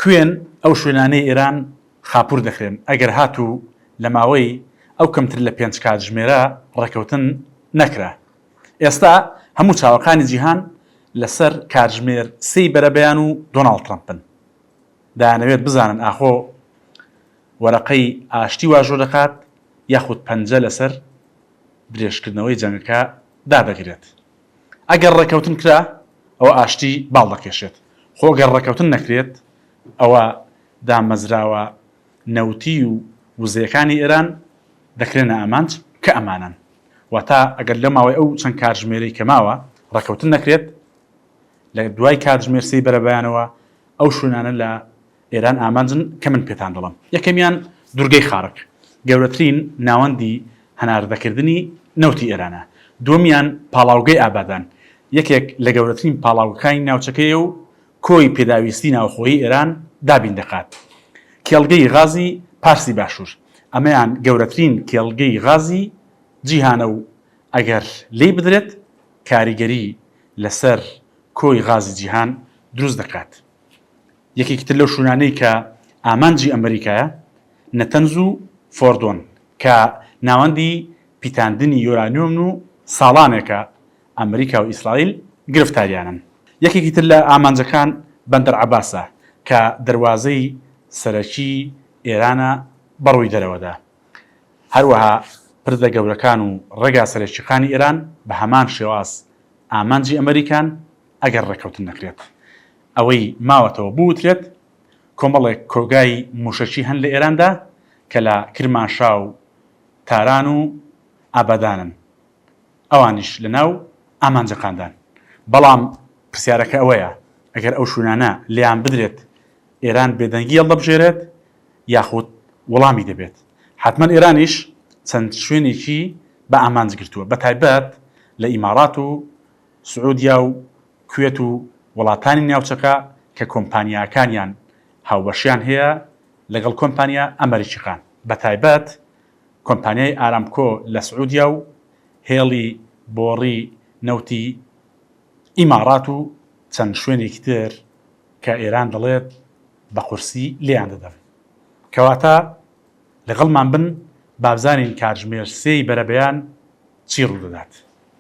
کوێن ئەو شوێنانەی ئێران خاپوور دەکرێن؟ ئەگەر هاتوو لە ماوەی ئەو کەمتر لە پێنج کاتژمێرە ڕێکەوتن نەکرا، ئێستا هەموو چاوەکانی جیهان لە سەر کاتژمێر سێی بەرەبەیان و دۆناڵد ترەمپن. دەیانەوێت بزانن ئاخۆ وەرەقەی ئاشتی واژۆ دەکات یاخود پەنجە لە سەر درێژکردنەوەی جەنگەکە دادەگرێت. ئەگەر ڕێکەوتن کرا ئەوە ئاشتی باڵ دەکێشێت، خۆ گەر ڕێکەوتن نەکرێت ئەوە دامەزراوە نەوتی و وزەیەکانی ئێران دەکرێنە ئامانج کە ئەمانەن. واتە ئەگەر لە ماوەی ئەو چەند کاتژمێرەی کە ماوە ڕێکەوتن نەکرێت لە دوای کاتژمێر سێی بەرەبەیانەوە ئەو شوێنانە لە ئێران ئامانجن کە من پێتان دەڵێم. یەکەمیان دورگەی خارک، گەورەترین ناوەندی هەناردەکردنی نەوتی ئێرانە. دووەمیان پاڵاوگەی ئابادان، یەکێک لە گەورەترین پاڵاوگەکانی ناوچەکەیە و کۆی پێداویستی ناوخۆیی ئێران دابین دەکات. کێڵگەی غازی پارسی باشوور، ئەمەیان گەورەترین کێڵگەی غازی جیهانە و ئەگەر لێی بدرێت کاریگەری لەسەر کۆی غازی جیهان دروست دەکات. یەکێکی تر لەو شوونانەی کە ئامانجی ئەمریکایە، نەتەنز و فۆردۆن، کە ناوەندی پیتاندنی یۆرانیۆمن و ساڵانێکە ئەمریکا و ئیسرائیل گرفتاریانن. یەکێکی تر لە ئامانجەکان بەندەر عەباسە، کە دەروازەی سەرەکیی ئێرانە بە ڕووی دەرەوەدا. هەروەها پردە گەورەکان و ڕێگا سەرەکییەکانی ئێران بە هەمان شێواز ئامانجی ئەمریکان، ئەگەر ڕێککەوتن نەکرێت. ئەوەی ماوەتەوە بوترێت، کۆمەڵێک کۆگای موشەکی هەن لە ئێراندا کە لە کرماشا و تاران و ئابادانن، ئەوانیش لە ناو ئامانجەکاندان. بەڵام پرسیارەکە ئەوەیە ئەگەر ئەو شوێنانە لێیان بدرێت ئێران بێدەنگی هەڵدەبژێرێت یاخود وڵامی دەبێت؟ حەتمەن ئێرانیش چەند شوێنێکی بە ئامانج گرتووە بە تایبەت لە ئیمارات و سعودیا و کوێت و وڵاتانی ناوچەکە کە کۆمپانیاکانیان هاوبەشیان هەیە لەگەڵ کۆمپانیا ئەمەریکیەکان بەتایبەت کۆمپانیای ئارامکۆ لە سعودیا و هێڵی بۆڕی نەوتی ئیماڕات و چەند شوێنێکی تر کە ئێران دەڵێت بە قورسی لێیان دەدەن کەواتە لەگەڵمان بن بابزانین کاتژمێر سێی بەرەبەیان چی ڕوودەدات.